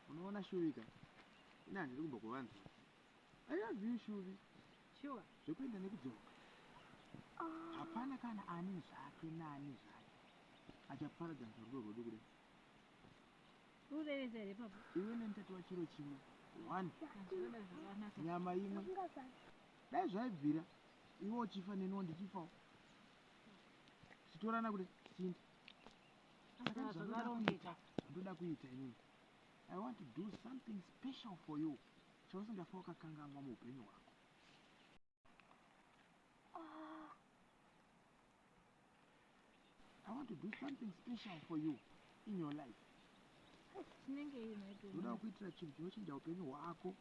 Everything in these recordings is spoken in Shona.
unoona shuvi ka ini handiri kumbo kuvanzi i love you shuvi shuwa zvekuenda nekudzoka ah. hapana kana ani zvake naani zvake achaparadza nzvarudo rwedu kuda urevesa here papa iwe nenitati wachiro chimwe one nyama imwe dai zvaibvira iwe uchifa neniwo ndichifawo titorana kuti sindi Saka zvakaroneka ndoda kuita inini. I want to do something special for you. Chausingafa wakakanganwa muupenyu hwako. want to do something special for you in your life ndoda kuitira chinhu chinochinja upenyu hwako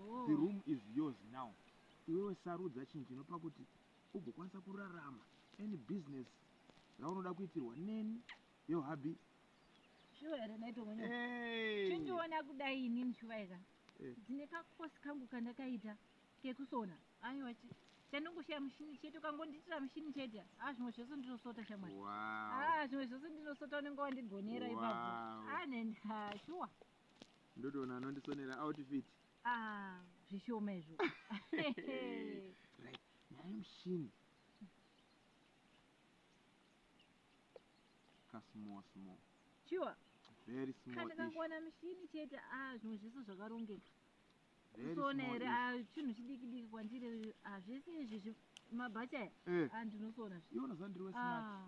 oh. the room is yours now iwewe sarudza chinhu chinopa kuti ugokwanisa kurarama any business raunoda kuitirwa neni yo hubby shuwa here naito mwenye hey. chindiona kudai ini mshuwa eka hey. Eh. ndine kakosi kangu kandakaita kekusona aiwa chandongoshaya mushini chete ukangondiitira mushini chete a ah, zvimwe zvese ndinosota shamwari a ah, zvimwe zvese ndinosota unenge wandigonera ipapo a ah, shuwa ndotoona anondisonera outfit Haa zvishoma izvo. Right. Nyaya yemushini. Ka small small. Sure. Very small. Kana kangowana mushini chete ah zvimwe zvese zvakarongeka. Usoona here ah chinhu chidiki diki kwandiri ah zvese izvi mabhacha aya. Eh. Ah ndinosoona zvi. Iona zandiri we smart. Ah.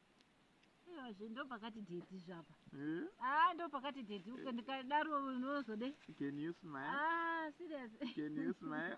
Zve ndopakati dedi zvapa. Eh? Ah, ndopakati dedi eh. ukandikadaro unozode. Can you smile? Ah, serious. Can you smile?